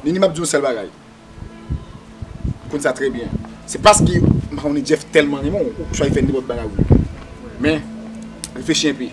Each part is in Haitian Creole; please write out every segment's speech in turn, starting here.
Nini map di yon sèl bagay ou konn sa trè byen se paske mpa konnen Jeff tèlman renmen w ou k fè nenpòt bagay ou vle men reflechi enpe.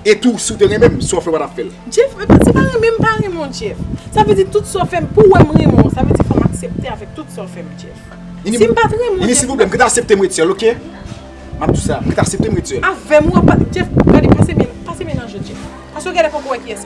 E tou si w te renmen m, sa w fè w pa t ap fè l. Jeff, men si pa renmen m, pa renmen w Jeff. Sa vle di tout sa w fè m, pou w wè m renmen w, sa vle di fò m aksepte avèk tout sa w fè m Jeff. Si m pa t renmen w Jeff. Nini silvouplè, m k t asepte m ret sèl ok. M ap di w sa, m k t asepte m ret sèl. Avè m ou ap, Jeff, gade pase men, pase men nan je Jeff. Paske w genlè poko wè kiyès.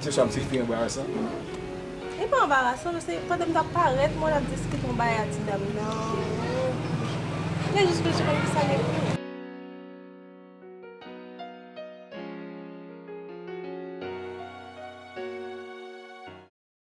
Se sa m se pi anbarasan. Li pa anbarasan non se pandan m tap parèt mwen ap diskite yon bagay a ti dam nan ou te jis bezwen konn kisa gen pou ou.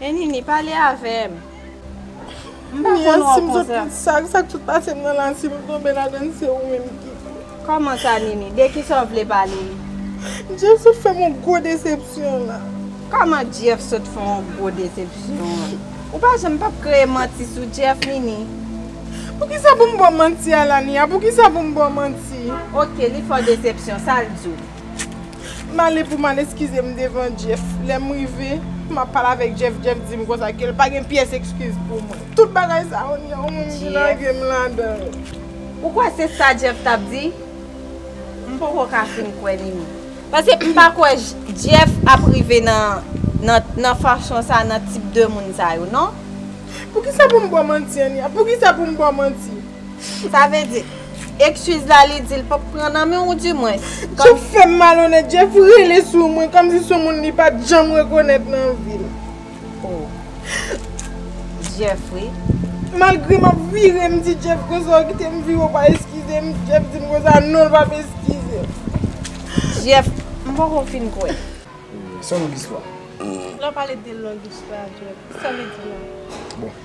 E Nini pale avèm. M pa konn wè w konsa. Sak sot pase m nan la si m tonbe ladann se ou menm ki. Kòman sa Nini? De kisa w vle pale? Jeff sot fè m yon gwo desepsyon la. Kòman Jeff sot fè w yon gwo desepsyon an? Ou pa janm pap kreye manti sou Jeff Nini? Poukisa pou m ba w manti a Lania? Poukisa pou m ba w manti? Ok li fè w desepsyon sa l di w? M ale pou m al eskize m devan Jeff. Lè m rive, m ap pale avèk Jeff, Jeff di m konsa ke l pa gen pyès eskiz pou mwen. Tout bagay sa yo ni yon moun ki lage m ladan yo. Ou kwè se sa Jeff t ap di? M poko ka fin kwè ni mi. Paske m pa kwè Jeff ap rive nan fachon sa nan tip de moun sa yo non. Poukisa pou m ba w manti Ania? Poukisa pou m ba w manti? Sa vle di, ekskiz la li di l pap pran nan men w di mwens. Jeff fè m malonèt, Jeff rele sou mwen kòmsi s on moun li pa t janm rekonèt nan vi l. Oh. Jeff wi. Malgre m ap vire m di Jeff konsa w kite m viv ou pa eskize m, Jeff di m konsa non l pap eskize m. Jeff, m poko fin kwè. Se yon long istwa. Lè w pale de long istwa Jeff, sa w vle di la? Bon.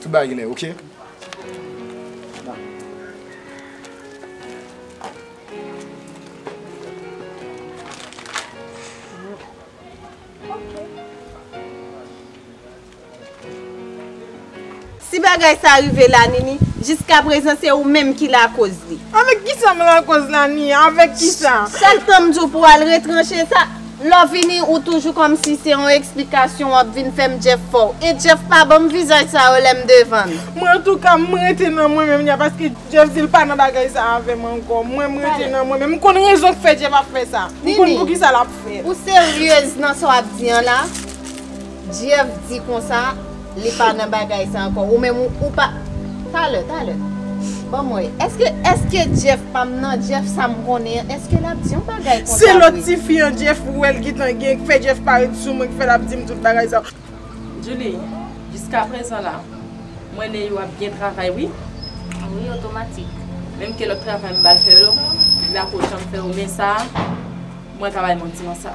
Tout bagay genlè ok. Si bagay sa rive la Nini, jiska prezan se ou menm ki lakoz li. Avèk kisa m lakoz la Nini? Avèk kisa? Chak tan m di w pou w al retranche sa, Lovini ou toujou komsi se yon eksplikasyon wap vin fèm Jeff fòw e Jeff pa banm vizaj sa yo lèm devann. Mwen antouka m rete nan mwen menm ya paske Jeff dil pa nan bagay sa avèm ankò mwen m rete nan mwen menm m konn rezon k fè Jeff ap fè sa m konn poukisa lap fèl. Ou serieuse nan sa wap di an la? Jeff di konsa li pa nan bagay sa ankò ou menm ou pa talè talè banm wè èske èske Jeff pam nan Jeff sam konnen an èske lap di yon bagay konsa vre. Se lòt tifi an Jeff ou wèl gintan gen k fè Jeff pa ret sou mwen k fè lap dim tout bagay sa. Djoulie, jiskaprezan la m wè Neyou ap byen travay wi. Wi otomatik. Menm ke lòt travay m bal fè yo li pa ko janm fè yo men sa mwen ka bay manti nan sa.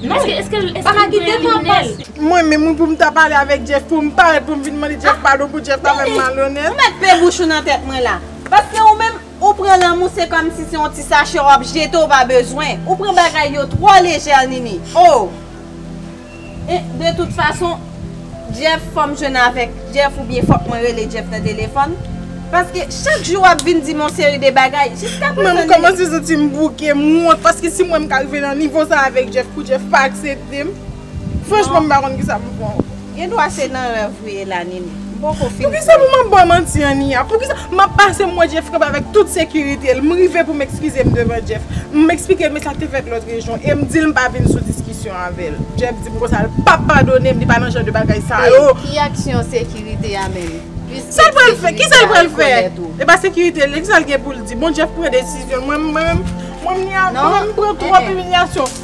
Non, pa ka kite pou ap pase. Mwen menm wi poum ta pale avèk Jeff poum parèt poum vin mande Jeff padon pou Jeff pa fèm malonèt. Ou mèt pe bouch ou nan tèt mwen la. Paske ou menm ou pran lanmou se kòmsi se yon ti sachè wap jete ou pa bezwen. Ou pran bagay yo twò lejè Nini. Oh! E de tout fason. Jeff fòm jwenn avèk Jeff oubyen fòk mwen rele Jeff nan telefòn paske chak jou wap vin dim yon seri de bagay jiska prezan li Mwen kòmanse santim bouke m wont paske si m wèm ka rive nan nivo sa avèk Jeff pou Jeff pa akseptem franchman m pa konn kisa pou m fè ankò. Gendwa se nan rèv ou ye la Nini. Poukisa pou map baw manti an Nia? Poukisa map pase m wè Jeff kanpe avèk tout sekirite l, m rive pou m ekskize m devan Jeff, m eksplike l men sa k te fèt lòt rejyon e m di l m pa vin sou diskisyon avè l. Jeff di m konsa l pap padone m, li pa nan jan de bagay sa yo. E ki aksyon sekirite a menm? Sa l pral fè? Kisa l pral fè? E pa sekirite l ye, kisa l gen pou l di? Bon Jeff pran desizyon l, mwen menm, mwen menm Nia, mwen menm m pran twòp imilyasyon.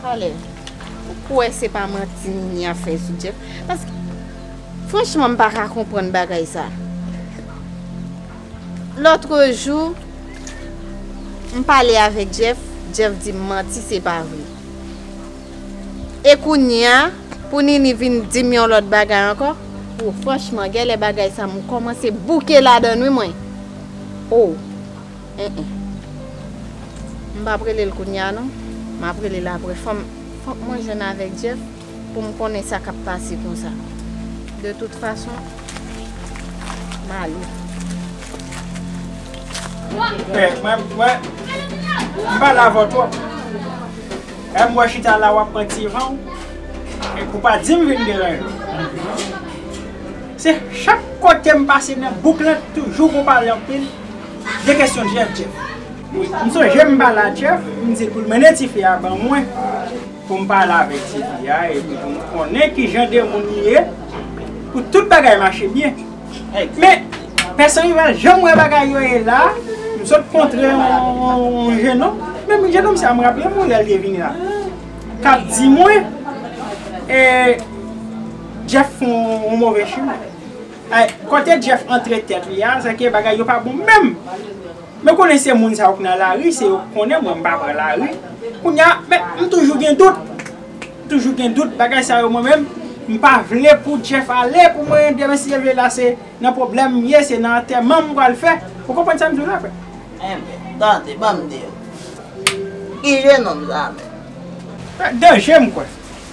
Talè ou kwè se pa manti Ninie ap fè sou Jeff paske franchman m paka konprann bagay sa lotre jou m pale avèk Jeff Jeff di m manti se pa vre e kounya pou Ninie vin di m yon lòt bagay ankò oh franchman gèlè bagay sa m kòmanse bouke ladann wi mwen oh. Enh enh. M pap rele l kounya non. M ap rele l aprè. Fòk mwen jwenn avèk Jeff pou m konnen sa k ap pase konsa. De tout fason, m ale. Enh mwen, mwen. M pale avè w twòp. Enh m wè chita la w ap pran ti van w. Enh ou pa di m vin deranje w. Se chak kote m pase nan bouk lan toujou gon pale anpil. 2 kesyon Jeff Jeff M sonje m pale a Jeff m di pou l mennen tifi a ban mwen pou m pale avèk tifi a epi pou m konnen kijan de moun li ye pou tout bagay mache byen men pèsonn yo pa janm wè bagay yo e la m sot kontre yon jenòm menm jenòm sa m raple m lè l te vini la k ap di mwen Jeff fè yon move chimen. Ay kote Jeff antre tèt li a, sèke bagay yo pa bon menm. Mwen konnen se moun sa yo k nan lari, se yo k konnen mwen m pa pran lari. Kounye a, men m toujou gen dout. M toujou gen dout, bagay sa yo mwen menm, m pa vle pou Jeff ale pou mwen demen si l vle la se nan pwoblèm m ye, se nan antèman m pral fè. Ou konprann sa m di w la frè? Enben, tande, ban m di w. Ki je nonm sa a menm? Danje m kwè.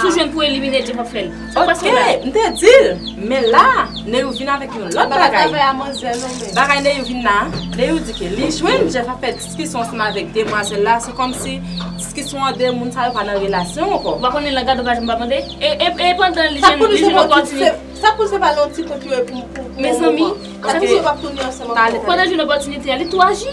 Sou jwenn pou elimine Jeff ap fèl. Sa pase la. Ok m te dil men la Neyou vin avèk yon lòt bagay. Mpa ka travay a manzè non men. Bagay Neyou vin la Neyou di ke li jwenn Jeff ap fè diskisyon ansanm avèk demwazèl la se kòmsi diskisyon an de moun sa yo pa nan relasyon ankò. Ou pa konnen langaj dovaj mpa mande e pandan li jwenn yon opòtinite. Sa pou li se pa nan yon ti kont yo ye pou yon moman. Mezanmi sa pou li se pa pou yo ap tounen ansanm ankò. Pandan li jwenn opòtinite a li tou aji.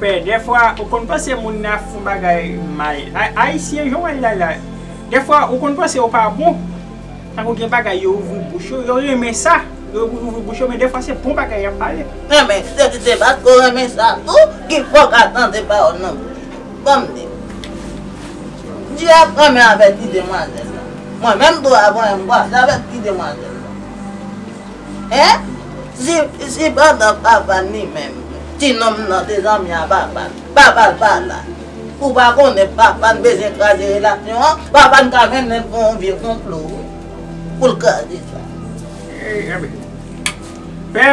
Pè dèfwa ou konn panse moun nan ap fon bagay mal ayisyen jan w wè l la la dèfwa ou konn panse yo pa bon tankou gen bagay yo ouvri bouch yo yo renmen sa yo ouvri bouch yo men dèfwa se bon bagay y ap pale. Renmen se di se paske w renmen sa tou ki fè w ka tande pawòl nan bouch li ban m di w li ap renmen avèk ti demwazèl la mwen menm tou avwen m kwaze avèk ti demwazèl la. Hein? Si pandan papa l li menm, ti nonm nan te zanmi a papa l, papa l pa la, ou pa konnen papa l bezwen kraze relasyon an? Papa l ka mennen l pou yon vye konplo wi, pou l kraze sa. Hey anmwey. Pè,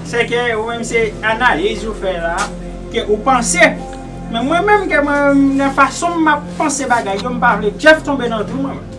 se ke ou menm se analiz ou fè la, ke ou panse, men mwen menm ke mwen menm nan fason m ap panse bagay yo m pa vle Jeff tonbe nan twou mwen menm.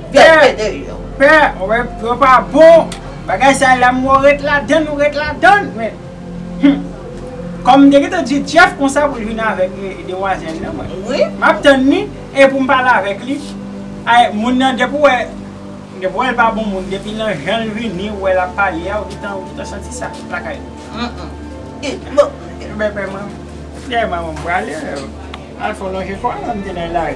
Pè ou pa bon Bagay sa la m wè ou ret ladann ou ret ladann men Humm Kòm m te gentan di Jeff konsa pou l vin avèk demwazèl nan mwen M ap tann li e pou m pale avèk li Ay moun nan depi ou wè Depi ou wè l pa bon moun depi nan jan l vini ou wè l ap pale a ou gentan santi sa lakay li Ebyen pè mwen Pè mwen m prale Alfon lonje kò l an m te nan lari.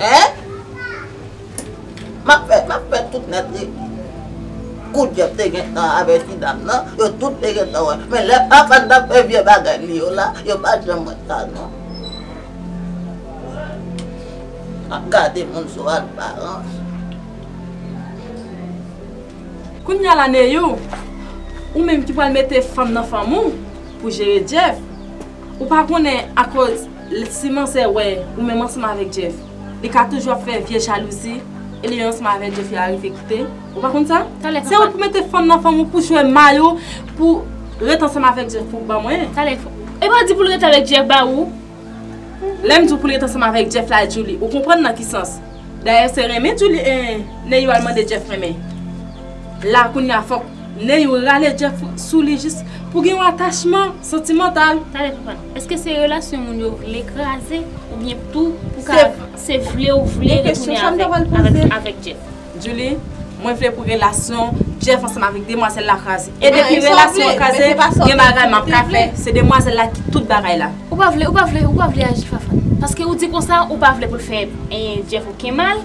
Hein? Map fè, map fè tout nèt li. Kou Jeff te gentan avè ti dam nan, yo tout te gentan wè. Men lè Afan tap fè vye bagay li yo la, yo pat janm wè sa non. Ap gade moun sou alparans. Kounya la Neyou, ou menm ki pwal mete fanm nan fanm ou, pou jere Jeff, ou pa konnen akoz. Lè Simansè wè ou menm ansanm avèk Jeff, li ka toujou ap fè vye jalouzi e li menm ansanm avèk Jeff yo arive kite ou. Ou pa konn sa? Se ou ki mete fanm nan fanm ou pou jwe may ou pou ret ansanm avèk Jeff pou ban mwen. Talè, E pa di pou l ret avèk Jeff ba ou? Lè m di w pou l ret ansanm avèk Jeff la Djoulie, ou konprann nan ki sans? Dayè se renmen Djoulie e Neyou al mande Jeff renmen. La kounye a fòk Neyou rale Jeff sou li jis pou gen yon atachman santimantal. Talè, Eske se relasyon moun yo vle kraze ou byen tou pou ka se vle ou vle retounen avèk Jeff? Julie, mwen vle pou relasyon Jeff ansanm avèk demwazèl la kraze. E depi relasyon an kraze, gen bagay map ka fè. Se demwazèl la ki tout bagay la. Ou pa vle, ou pa vle, ou pa vle aji Fafane. Paske ou di konsa ou pa vle pou l fè Jeff oken mal.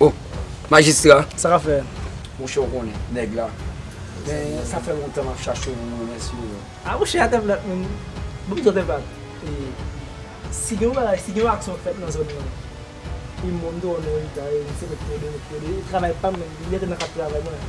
Oh majistra sa ka fè. Mouche ou konnen nèg la men sa fè lontan map chache moun mwen mèsi ou. Ah mouche atèm lòt moun banm zòt enpak e si gen yon bagay si gen yon aksyon k fèt nan zòn nan e mwen m te wè yon eritay misye met pwede met pwede e travay pam menm li mèt nan kap travay mwen.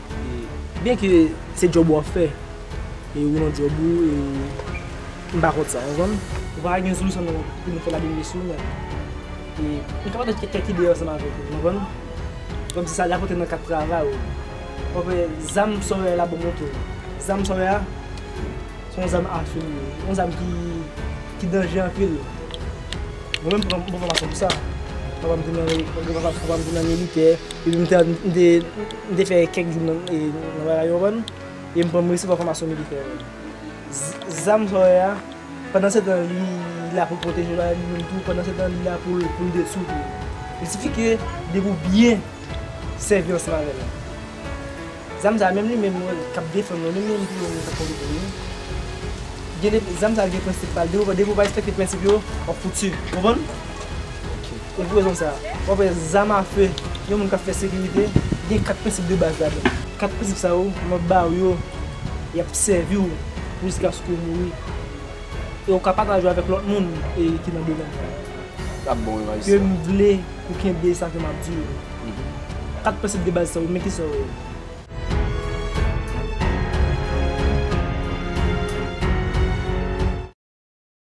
Byen ke se djòb ou ap fè e ou nan djòb ou e m pa kont sa ou konprann. Nou pa ka gen sou san nou pou nou fè la belle sou men e nou ka pataje kèk ide ansanm avèk ou konprann. Kòm si sa li ap rantre nan kad travay ou. Ou ap wè zam Sawyer la banm montre w. Zam Sawyer a se yon zam a fè li ye. Yon zam ki danje anpil. Mwen menm m pran fòmasyon pou sa. Papa m te nan militè epi m te M te fè kèk jou nan bagay yo konprann e m pran m resevwa fòmasyon militè yo. Zam sa w wè a pandan setan li la pou l pwoteje bagay li menm tou pandan setan li la pou l detwi tou. Li sifi ke depi w byen sèvi ansanm avè l. Zam sa menm li menm wè l k ap defann mwen menm li menm tou wè m k ap konte pou mwen. Gen de zam sa gen prensip pa l depi w pa respekte prensip yo w ap fouti. Ou konprann? Se pou rezon sa a, w ap wè zam afe yon moun k ap fè sekirite gen 4 prensip de baz ladan l. 4 prensip sa yo, m ap ba ou yo, y ap sèvi w jiskaske w mouri e ou ka pataje avèk lòt moun ki nan domèn sa a. Sa ap bon wi majistra. Ke m vle pou w kenbe sa ke m ap di w yo. 4 prensip de baz sa yo, men ki sa yo ye.